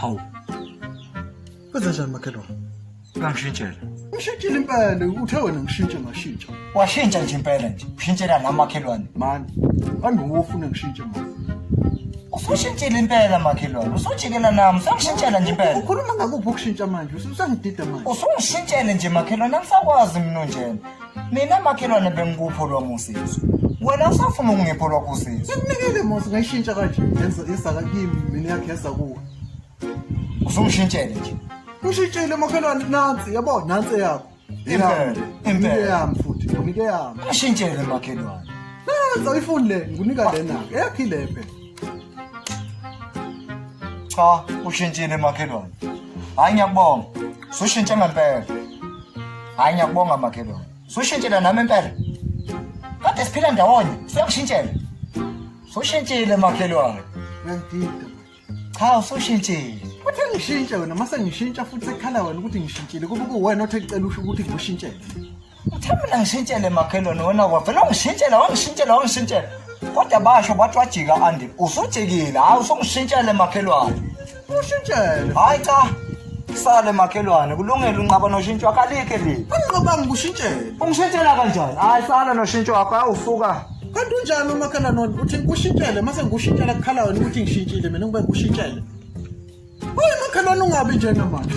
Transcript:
Hawu. Kwenza njani makhelwane? Ngangishintshela. Ngishintshile impela uthe wena ngishintshe ngashintsha. Washintsha nje impela nje. Ushintshela la makhelwane. Mani. Kambe wofuna ngishintshe manje. Usushintshile impela makhelwane. Usujikela nami. Usangishintshela nje impela. Ukhuluma ngakuphi ukushintsha manje? Usangidida manje. Usungishintshele nje makhelwane. Angisakwazi mina njena. mina makhelwane bengikupho lwami usizo wena usafuna ukungipho lwakho usizo sekunikele mosi ngayishintsha kanje yenza yesaka kimi mina yakhe yesa kuwe usungishintshele nje ushintshile makhelwane nansi yabo nansi eyakho Impela, impela. nike yami futhi nike yami ashintshele makhelwane nansi ayifuni le ngikunika lena eyakhi le phela Cha, ushintshile makhelwane. Hayi ngiyakubonga. Sushintshe ngempela. Hayi ngiyakubonga makhelwane. Sushintshile nami impela. Kade siphila ndawonye, siyakushintshela. Sushintshile makhelwane. Ngangidida. Cha, usushintshile. Futhi ngishintshe wena, mase ngishintsha futhi sekhala wena ukuthi ngishintshile. Kuba kuwena othe ngicela usho ukuthi ngikushintshele. Uthe mina ngishintshele makhelwane wena wavela ungishintshela wangishintshela wangishintshela. Kodwa basho bathi wajika andi usujikile hayi usungishintshele makhelwane. Ushintshele. Hayi cha sale makhelwane kulungile unqaba noshintsho wakho alikhe leli. Anqoba ngikushintshele. Ungishintshela kanjani? Hayi sala noshintsho wakho awusuka. Kanti unjani umakhelwane uthi ngikushintshele mase ngikushintshela kukhala wena ukuthi ngishintshile mina ngibe ngikushintshele. Uy makhelwane ungabi njena manje.